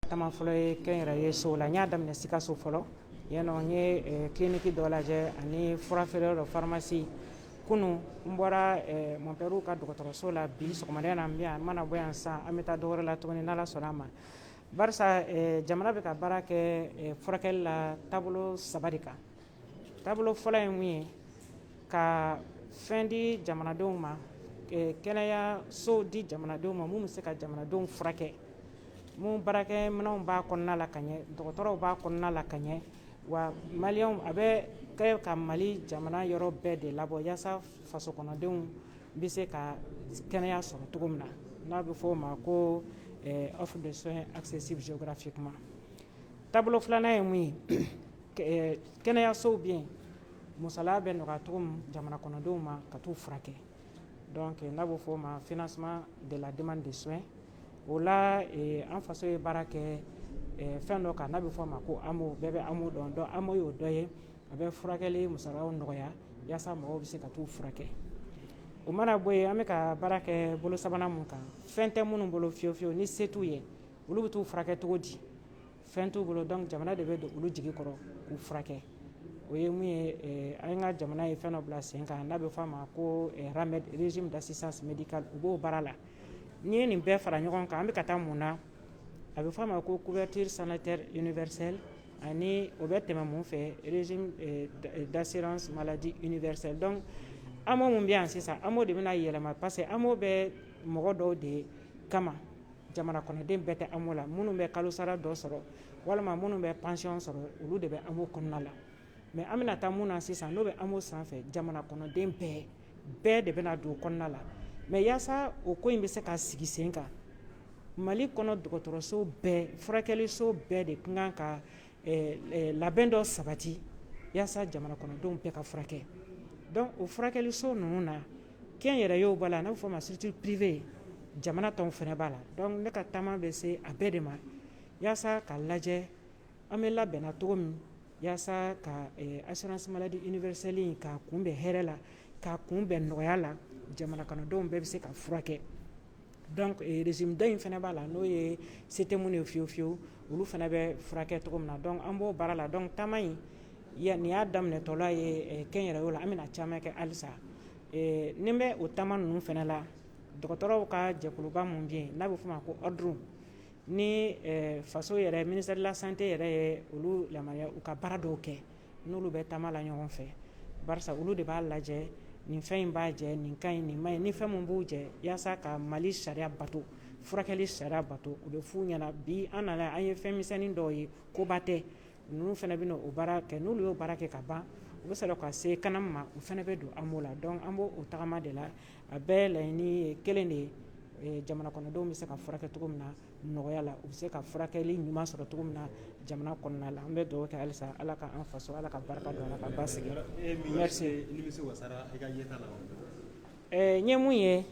Taama fɔlɔ ye kɛnyɛrɛye sow la n y'a daminɛ sikaso fɔlɔ yannɔ n ye kiliniki dɔ lajɛ ani fura feere dɔ faramasi kunun n bɔra mɔnpɛriw ka dɔgɔtɔrɔso la bi sɔgɔmada na bi an mana bɔ yan san an bɛ taa dɔ wɛrɛ la tuguni n'ala sɔnna a ma barisa jamana bɛ ka baara kɛ furakɛli la taabolo saba de kan taabolo fɔlɔ ye mun ye ka fɛn di jamanadenw ma kɛnɛyaso di jamanadenw ma min bɛ se ka jamanadenw furakɛ min baarakɛminɛnw b'a kɔnɔna la ka ɲɛ dɔgɔtɔrɔw b'a kɔnɔna la ka ɲɛ wa mali a bɛ kɛ ka mali jamana yɔrɔ bɛɛ de labɔ yaasa faso kɔnɔdenw bɛ se ka kɛnɛya sɔrɔ cogo min na n'a bɛ fɔ o ma ko offre de soins accessibles géographiquement taabolo filanan ye mun ye kɛnɛyasow bɛ yen musala bɛ nɔgɔya cogo min jamana kɔnɔdenw ma ka taa u furakɛ donc n'a bɛ fɔ o ma financement de la demande de soins o la an faso ye baara kɛ fɛn dɔ kan n'a bɛ fɔ a ma ko AMO bɛɛ bɛ AMO dɔn donc AMO y'o dɔ ye a bɛ furakɛli musala nɔgɔya yaasa mɔgɔw bɛ se ka taa u furakɛ o mana bɔ yen an bɛ ka baara kɛ bolo sabanan mun kan fɛn tɛ minnu bolo fiyewu fiyewu ni se t'u ye olu bɛ taa u furakɛ cogo di fɛn t'u bolo donc jamana de bɛ don olu jigi kɔrɔ k'u furakɛ o ye mun ye an ka jamana ye fɛn dɔ bila sen kan n'a bɛ f'a ma ko RAMED régime d'assistance médicale u b'o baara la n'i ye nin bɛɛ fara ɲɔgɔn kan an bɛ ka taa mun na a bɛ f'a ma ko couverture sanitaire universelle ani o bɛ tɛmɛ mun fɛ régime d'assurance maladie universelle donc AMO min bɛ yan sisan AMO de bɛna yɛlɛma parce que AMO bɛ mɔgɔ dɔw de kama jamana kɔnɔden bɛɛ tɛ AMO la minnu bɛ kalo sara dɔ sɔrɔ walima minnu bɛ pansiyɔn sɔrɔ olu de bɛ AMO kɔnɔna la mais an bɛna taa min na sisan n'o bɛ AMO sanfɛ jamana kɔnɔden bɛɛ bɛɛ de bɛna don o kɔnɔna la mais yaasa o ko in bɛ se ka sigi sen kan mali kɔnɔ dɔgɔtɔrɔso bɛɛ furakɛliso bɛɛ de ka kan ka labɛn dɔ sabati yaasa jamana kɔnɔdenw bɛɛ ka furakɛ donc o furakɛliso ninnu na kɛnyɛrɛyew b'a la n'a bɛ fɔ o ma structure privée jamana taw fana b'a la donc ne ka taama bɛ se a bɛɛ de ma yaasa ka lajɛ an bɛ labɛnna cogo min yaasa ka assurance maladie universelle in k'a kunbɛn hɛrɛ la k'a kunbɛn nɔgɔya la jamana kɔnɔdenw bɛɛ bɛ se ka furakɛ Donc régime dɔ in fana b'a la n'o ye se tɛ minnu ye fiyewu fiyewu olu fana bɛ furakɛ cogo min na donc an b'o baara la donc taama in nin y'a daminɛtɔla ye kɛnyɛrɛyew la an bɛna caman kɛ halisa ɛɛ ni n bɛ o taama ninnu fana la dɔgɔtɔrɔw ka jɛkuluba min bɛ yen n'a bɛ f'o ma ko ordre ni faso yɛrɛ ministère de la santé yɛrɛ ye olu yamaruya u ka baara dɔw kɛ n'olu bɛ taama la ɲɔgɔn fɛ barisa olu de b'a lajɛ nin fɛn in b'a jɛ nin ka ɲi nin ma ɲi ni fɛn min b'u jɛ yaasa ka mali sariya bato furakɛli sariya bato u bɛ f'u ɲɛna bi an nana an ye fɛn misɛnnin dɔw ye koba tɛ ninnu fana bɛ o baara kɛ n'olu y'o baara kɛ ka ban u bɛ sɔrɔ ka se CANAM ma u fana bɛ don AMO la donc an b'o tagama de la a bɛɛ laɲini kelen de ye jamana kɔnɔdenw bɛ se ka furakɛ cogo min na nɔgɔya la u bɛ se ka furakɛli ɲuman sɔrɔ cogo min na jamana kɔnɔna la an bɛ dugawu kɛ halisa ala ka an faso ala ka barika don a la ka basigi n ye mun ye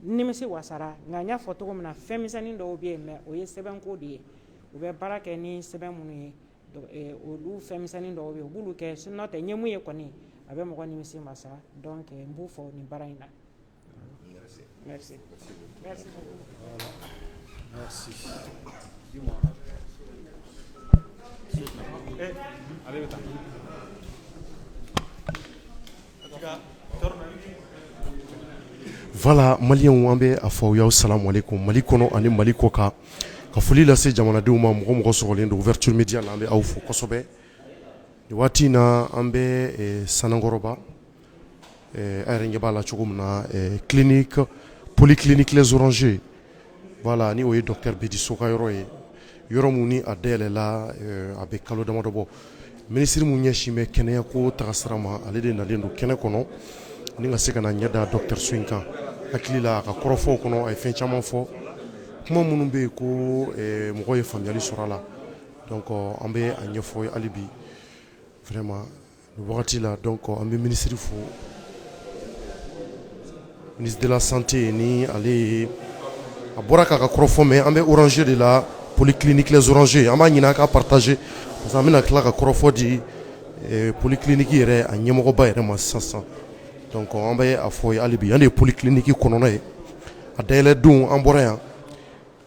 nimisi wasara nka n y'a fɔ cogo min na fɛnmisɛnnin dɔw bɛ yen mais o ye sɛbɛnko de ye u bɛ baara kɛ ni sɛbɛn minnu ye olu fɛnmisɛnnin dɔw bɛ yen u b'olu kɛ sinon tɛ n ye mun ye kɔni a bɛ mɔgɔ nimisi wasa donc n b'u fo nin baara in na Merci. Merci. Merci. Merci. Dis-moi. Eh, allez, attends. Voilà, maliyɛnw an bɛ a fɔ aw ye salamu aleykum mali kɔnɔ ani mali kɔ kan ka foli lase jamanadenw ma mɔgɔ mɔgɔ sɔgɔlen don Ouverture Média la an bɛ aw fo kosɛbɛ nin waati in na an bɛ Sanankɔrɔba Ɛɛ aw yɛrɛ ɲɛ b'a la cogo min na ɛɛ clinique polyclinique les Orangers voilà ni o ye docteur Bedi So ka yɔrɔ ye, yɔrɔ min ni a dayɛlɛla ɛɛ a bɛ kalo damadɔ bɔ, minisiri min ɲɛsin bɛ kɛnɛya ko taasira ma ale de nalen don kɛnɛ kɔnɔ ni ka se ka na ɲɛ da dɔgɔtɔrɔso in kan, n hakili la a ka kɔrɔfɔw kɔnɔ a ye fɛn caman fɔ, kuma minnu bɛ yen ko ɛɛ mɔgɔw ye faamuyali sɔrɔ a la donc an bɛ a ɲɛfɔ hali bi vraiment Wagati la donc an bɛ minisiri fo ministre de la santé ni ale ye a bɔra k'a ka kɔrɔfɔ mɛn an bɛ Orangers de la polikiliniki les Orangers an b'a ɲini a ka partager parce que an bɛna tila ka kɔrɔfɔ di polikiliniki yɛrɛ a ɲɛmɔgɔba yɛrɛ ma sisan sisan donc an bɛ a fɔ ye hali bi yan de ye polikiliniki kɔnɔna ye a dayɛlɛ don an bɔra yan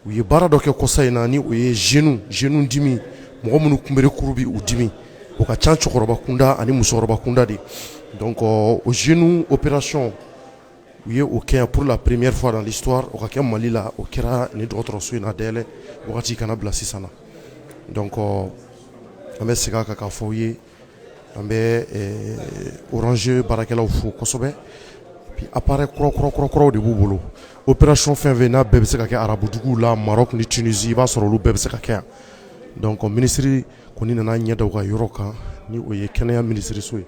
u ye baara dɔ kɛ kɔsa in na ni o ye genou genou dimi mɔgɔ minnu kunbere kuru bɛ u dimi o ka ca cɛkɔrɔba kunda ani musokɔrɔba kunda de donc o genou opération u ye o kɛ pour la première fois dans l'histoire o ka kɛ Mali la o kɛra nin dɔgɔtɔrɔso in na dayɛlɛ wagati ka na bila sisan na donc an bɛ segin a kan k'a fɔ aw ye An bɛ Orangers baarakɛlaw fo kosɛbɛ puis appareil kurakurakuraw de b'u bolo opération fɛn fɛn n'a bɛɛ bɛ se ka kɛ arabuduguw la Maroc ni Tunisie i b'a sɔrɔ olu bɛɛ bɛ se ka kɛ yan donc minisiri kɔni nana ɲɛ da u ka yɔrɔ kan ni o ye kɛnɛya minisiriso ye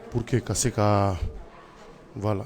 pour que ka se ka voilà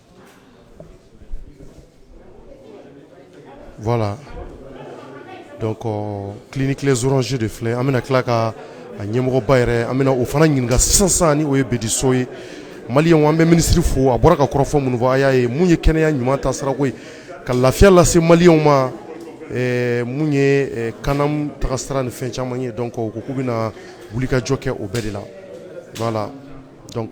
Voilà donc clinique Les Orangers de filɛ an bɛna tila ka a ɲɛmɔgɔba yɛrɛ an bɛna o fana ɲininka sisansan ni o ye Bedi So ye maliyɛnw an bɛ minisiri fo a bɔra ka kɔrɔfɔ minnu fɔ a y'a ye mun ye kɛnɛya ɲuman taga sirako ye ka lafiya lase maliyɛnw ma mun ye CANAM taga sira ni fɛn caman ye donc u ko k'u bɛna wulikajɔ kɛ o bɛɛ de la voilà donc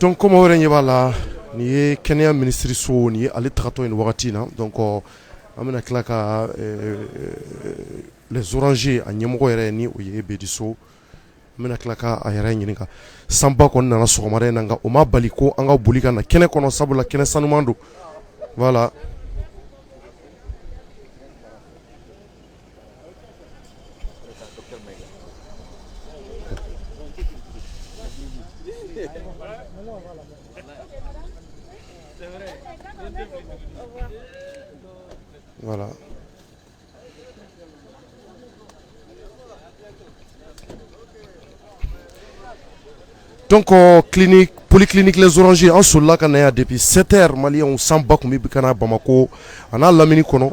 Donc comme aw yɛrɛ ɲɛ b'a la nin ye kɛnɛya minisiririso nin ye ale tagatɔ ye nin wagati in na donc an bɛna tila ka Les Orangers a ɲɛmɔgɔ yɛrɛ ni o ye Bedi So an bɛna tila ka a yɛrɛ ɲininka sanba kɔni nana sɔgɔmada in na nka o ma bali ko an ka boli ka na kɛnɛ kɔnɔ sabula kɛnɛ sanuman don voilà Voilà. Donc, clinique, polyclinique Les Orangers, an solila ka na yan depuis 7 heures maliyɛnw sanba tun bɛ ka na Bamakɔ a n'a lamini kɔnɔ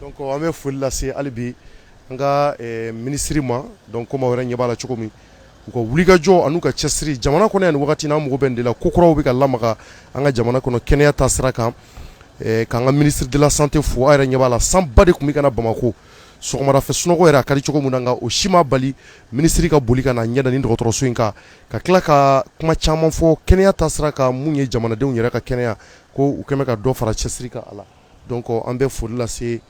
Donc an bɛ foli lase hali bi an ka minisiri ma donc comme aw yɛrɛ ɲɛ b'a la cogo min u ka wulikajɔ ani u ka cɛsiri jamana kɔnɔ yan nin waati na an mago bɛ nin de la ko kuraw bɛ ka lamaga an ka jamana kɔnɔ kɛnɛya ta sira kan k'an ka minisiri de la santé fo a yɛrɛ ɲɛ b'a la sanba de tun bɛ ka na bamakɔ sɔgɔmada fɛ sunɔgɔ yɛrɛ a ka di cogo min na nka o si ma bali minisiri ka boli ka na ɲɛ da nin dɔgɔtɔrɔso in kan ka tila ka kuma caman fɔ kɛnɛya ta sira kan mun ye jamanadenw yɛrɛ ka kɛnɛya ko u kɔni bɛ ka dɔ fara cɛsiri kan voilà donc an bɛ foli lase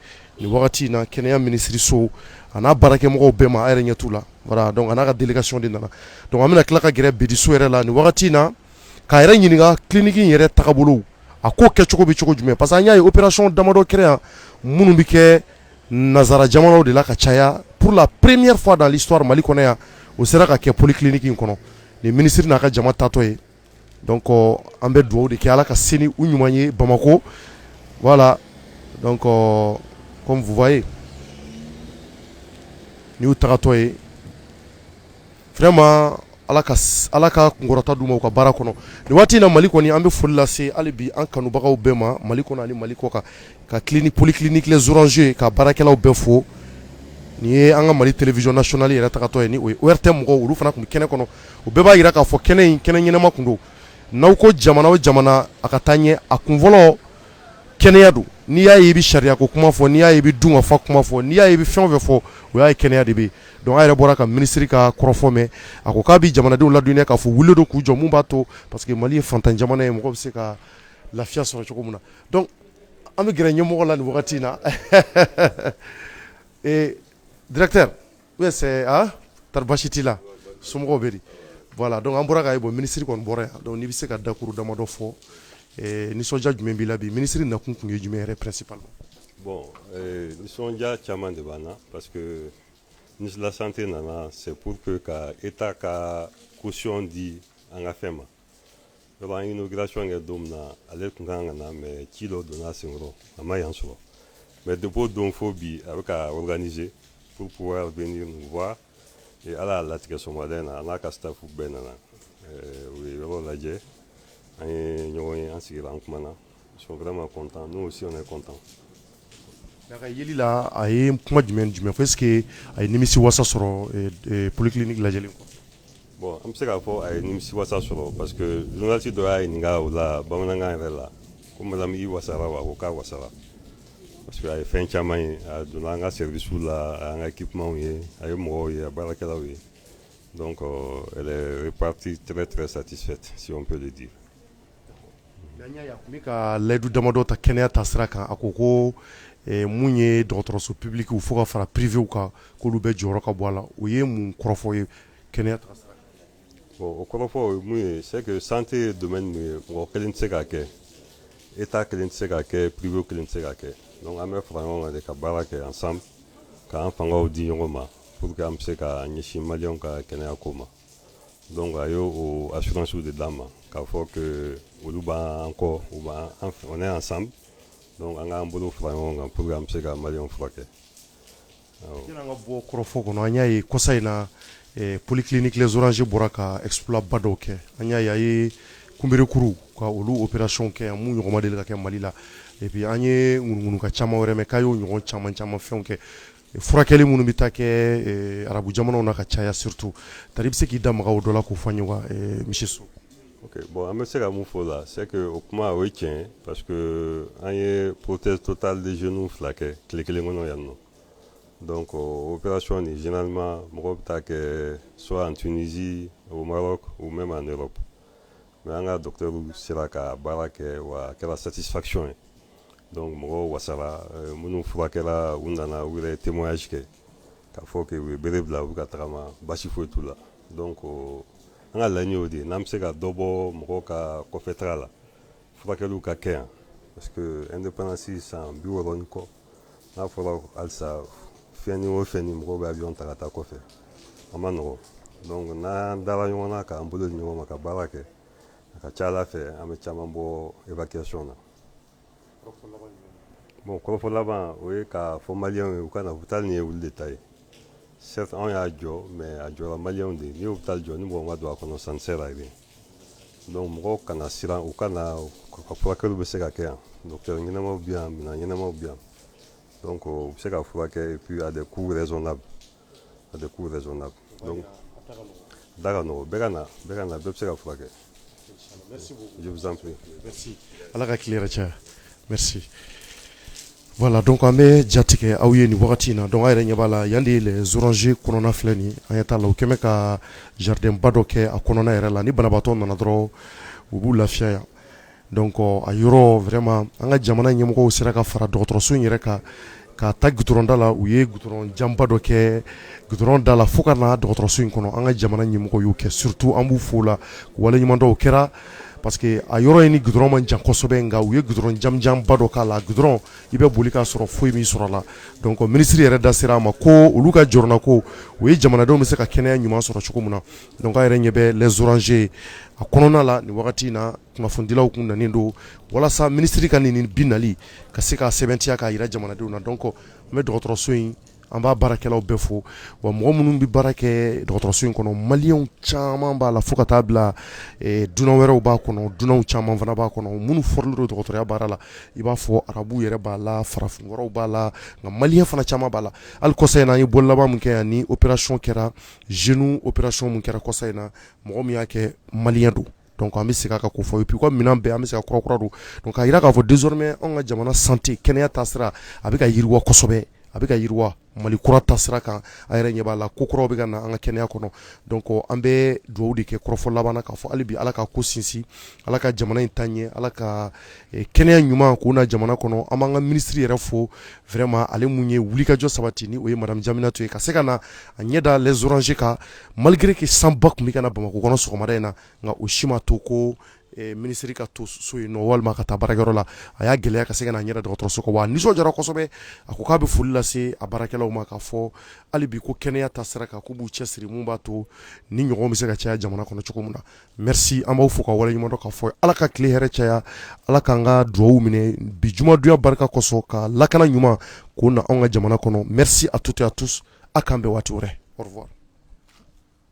nin wagati in na kɛnɛya minisiriso a n'a baarakɛmɔgɔw bɛɛ ma a yɛrɛ ɲɛ t'u la a n'a ka délégation de nana donc an bɛna tila ka gɛrɛ Bedi So yɛrɛ la nin wagati in na k'a yɛrɛ ɲininka clinique in yɛrɛ taga bolo a ko kɛ cogo bɛ cogo jumɛn parce que an y'a ye opération damadɔ kɛra yan minnu bɛ kɛ nansara jamanaw de la ka caya pour la première fois dans l'histoire mali kɔnɔ yan o sera ka kɛ polikiliniki in kɔnɔ nin minisiri n'a ka jama tatɔ ye Donc an bɛ dugawu de kɛ ala ka se ni u ɲuman ye bamakɔ voilà donc comme vous voyez nin y'u tagatɔ ye vraiment ala ka kunkɔrɔta d'u ma u ka baara kɔnɔ nin waati in na mali kɔni an bɛ foli lase hali bi an kanubagaw bɛɛ ma mali kɔnɔ ni mali kɔ kan ka clinique polyclinique Les Orangers ka baarakɛlaw bɛɛ fo nin ye an ka mali télévision nationale yɛrɛ tagatɔ ye ORTM mɔgɔw olu fana tun bɛ kɛnɛ kɔnɔ o bɛɛ b'a jira k'a fɔ kɛnɛ in kɛnɛ ɲɛnama tun don n'aw ko jamana o jamana a ka taa ɲɛ a kun fɔlɔ kɛnɛya don n'i y'a ye i bɛ sariya ko kuma fɔ n'i y'a ye i bɛ dun ka fa kuma fɔ n'i y'a ye i bɛ fɛn o fɛn fɔ o y'a ye kɛnɛya de bɛ yen donc a yɛrɛ bɔra ka minisiri ka kɔrɔfɔ mɛn a ko k'a bɛ jamanadenw ladɔnniya k'a fɔ weele don k'u jɔ mun b'a to parce que mali ye faantan jamana ye mɔgɔ bɛ se ka lafiya sɔrɔ cogo min na an bɛ gɛrɛ ɲɛmɔgɔ la nin wagati in na directeur tari basi t'i la somɔgɔw bɛ di voilà donc an bɔra ka ye bon minisiri kɔni bɔra yan donc n'i bɛ se ka dakuru damadɔ fɔ nisɔndiya jumɛn b'i la bi minisiri nakun tun ye jumɛn yɛrɛ principalement bon nisɔndiya caman de b'an na parce que ministre de la santé nana c'est pour que ka état ka caution di an ka fɛn ma yɔrɔ an inauguration kɛ don min na ale tun kan ka na mais ci dɔ donna a sen kɔrɔ a ma yan sɔrɔ mais depuis o don fo bi a bɛ ka organiser pour pouvoir venir nous voir et ala y'a latigɛ sɔgɔmada in na a n'a ka staff bɛɛ nana u ye yɔrɔ lajɛ an ye ɲɔgɔn ye an sigira an kumana Sokɛma kɔntan n'o si kɔntan a jiri la a ye kuma jumɛn jumɛn foyi que a ye nimi wasa sɔrɔ politigi ni lajɛ kɔ bɔn an bɛ se k'a fɔ a ye nimi wasa sɔrɔ parce que donnasi dɔ y'a ɲini ɲininka o la bamanankan yɛrɛ la ko madamu wasa wa ko k'a wasa parce que a ye fɛn caman ye a donna an ka sesu la an ka ki kuma ye a ye mɔgɔw ye a baarakɛlaw ye dɔn kɔ pati tɛmɛ tɛmɛ sati fɛ sipere de di N ka layidu damadɔ ta kɛnɛya ta sira kan a ko ko mun ye dɔgɔtɔrɔso publique fo ka fara privéw kan k'olu bɛɛ jɔyɔrɔ ka bon a la o ye mun kɔrɔfɔ ye kɛnɛya o kɔrɔfɔ mun ye c'est que santé domaine ye mɔgɔ kelen tɛ se k'a kɛ état kelen tɛ se k'a kɛ privé kelen tɛ se k'a kɛ an bɛ fara ɲɔgɔn kan ka baara kɛ ensemble k'an fangaw di ɲɔgɔn ma pour que an bɛ se ka ɲɛsin maliyɛnw ka kɛnɛya ko ma Donc a y'o assurance de d'an ma k'a fɔ olu b'an kɔ on est ensemble an k'an bolo fara ɲɔgɔn kan pour que an bɛ se ka maliyɛnw furakɛ yanni an ka bɔ kɔrɔfɔ kɔnɔ an y'a ye kɔsa in na polyclinique les orangers bɔra ka exploit ba dɔw kɛ an y'a ye a ye kunberekuru ka olu opération kɛ yan min ɲɔgɔn ma deli ka kɛ mali la et puis an ye ŋunuŋunukan caman wɛrɛ mɛn k'a y'o ɲɔgɔn caman caman fɛn kɛ furakɛli minnu bɛ taa kɛ eh, arabu jamanaw na ka caya surtout tari bɛ se k'i da maga o dɔ la k'o fɔ an ye wa eh, monsieur Sow ok bon an bɛ se ka mun fɔ o la c'est que o kuma o ye tiɲɛ ye parce que an ye prothèse totale de genou fila kɛ tile kelen kɔnɔ yan nɔ donc opération nin généralement mɔgɔw bɛ taa kɛ soit en Tunisie au Maroc ou même en Europe Mais an ka docteur sera ka baara kɛ wa a kɛra satisfaction ye donc mɔgɔw wasara minnu furakɛla u nana u yɛrɛ témoignage kɛ k'a fɔ que u ye bere bila u bɛ ka tagama basi foyi t'u la donc an ka laɲini y'o de ye n'an bɛ se ka dɔ bɔ mɔgɔw ka kɔfɛtaga la furakɛliw ka kɛ yan parce que indépendance san biwɔɔrɔ ni kɔ n'a fɔra halisa fɛn ni o fɛn ni mɔgɔw bɛ avion ta ka taa kɔfɛ a man nɔgɔ donc n'an dala ɲɔgɔn na k'an bolo di ɲɔgɔn ma ka baara kɛ a ka ca ala fɛ an bɛ caman bɔ évacuation na bon kɔrɔfɔ laban o ye k'a fɔ maliyɛnw ye u ka na hôpital nin ye olu de ta ye certes anw y'a jɔ mais a jɔra maliyɛnw de ye n'i ye hôpital jɔ ni mɔgɔ ma don a kɔnɔ ça ne sert à rien Dɔnku mɔgɔw kana siran u ka furakɛw bɛ se ka kɛ yan ɲɛnamaw bɛ yan minɛn ɲɛnamaw bɛ yan u bɛ se ka furakɛ de kuu yɛrɛ la a de kuu yɛrɛ la da ka bɛɛ ka na bɛɛ bɛ se ka furakɛ ala ka tilen caya Voilà donc an bɛ jatigɛ aw ye nin wagati in na donc a yɛrɛ ɲɛ b'a la yan de Les Orangers kɔnɔna filɛ nin an ɲɛ t'a la u kɛmɛ ka jardinba dɔ kɛ a kɔnɔna yɛrɛ la ni banabaatɔ nana dɔrɔn u b'u lafiya yan donc a yɔrɔ vraiment an ka jamana ɲɛmɔgɔw sera ka fara dɔgɔtɔrɔso in yɛrɛ kan ka ta goudron da la u ye goudron janba dɔ kɛ goudron da la fo ka na dɔgɔtɔrɔso in kɔnɔ an ka jamana ɲɛmɔgɔw y'o kɛ surtout an b'u fo la waleɲuman kɛra Parce que a yɔrɔ in ni goudron man jan kosɛbɛ nka u ye goudron janmanjanba dɔ k'a la goudron i bɛ boli k'a sɔrɔ foyi m'i sɔrɔ a la donc minisiri yɛrɛ da sera a ma ko olu ka jɔrɔnanko o ye jamanadenw bɛ se ka kɛnɛya ɲuman sɔrɔ cogo min na donc a yɛrɛ ɲɛ bɛ Les Orangers a kɔnɔna la nin wagati in na kunnafonidilaw tun nanen don walasa minisiri ka nin bi nali ka se ka sɛbɛntiya k'a jira jamanadenw na donc an bɛ dɔgɔtɔrɔso in an b'a baarakɛlaw bɛɛ fo wa mɔgɔ minnu bɛ baara kɛ dɔgɔtɔrɔso in kɔnɔ maliyɛnw caman b'a la fo ka taa bila dunan wɛrɛw b'a kɔnɔ dunanw caman fana b'a kɔnɔ minnu fɔrilen don dɔgɔtɔrɔya baara la i b'a fɔ arabuw yɛrɛ b'a la farafin wɛrɛw b'a la nka maliyɛn fana caman b'a la hali kɔsa in na an ye bɔli laban min kɛ yan ni opération kɛra genou opération min kɛra kɔsa in na mɔgɔ min y'a kɛ maliyɛn don an bɛ segin a kan k'o fɔ et puis minɛn bɛɛ an bɛ se ka kurakura don donc k'a jira k'a fɔ désormais an ka jamana sante kɛnɛya taasira a bɛ ka yiriwa kosɛbɛ a bɛ ka yiriwa mali kura taasira kan a yɛrɛ ɲɛ b'a la ko kuraw bɛ ka na an ka kɛnɛya kɔnɔ donc an bɛ dugawu de kɛ kɔrɔfɔ laban na k'a fɔ hali bi ala ka ko sinsin ala ka jamana in taa ɲɛ ala ka kɛnɛya ɲuman ko na jamana kɔnɔ an b'an ka minisiri yɛrɛ fo vraiment ale min ye wulikajɔ sabati ni o ye madame Diéminatou ye ka se ka na a ɲɛ da Les Orangers kan malgré que sanba tun bɛ ka na bamakɔ kɔnɔ sɔgɔmada in na nka o si ma to ko minisiri ka to so yen walima ka taa baarayɔrɔ la a y'a gɛlɛya ka se ka na ɲɛ da dɔgɔtɔrɔso kan wa nisɔndiyara kosɛbɛ a ko k'a bɛ foli lase a baarakɛlaw ma k'a fɔ hali bi ko kɛnɛya taasira kan k'u b'u cɛsiri min b'a to nin ɲɔgɔn bɛ se ka caya jamana kɔnɔ cogo min na Merci an b'aw fo k'aw waleɲuman dɔn k'a fɔ Ala ka tile hɛrɛ caya Ala k'an ka dugawu minɛ bi jumadonya barika kosɔn ka lakana ɲuman k'o na anw ka jamana kɔnɔ merci à toutes et à tous a k'an bɛn waati wɛrɛ au revoir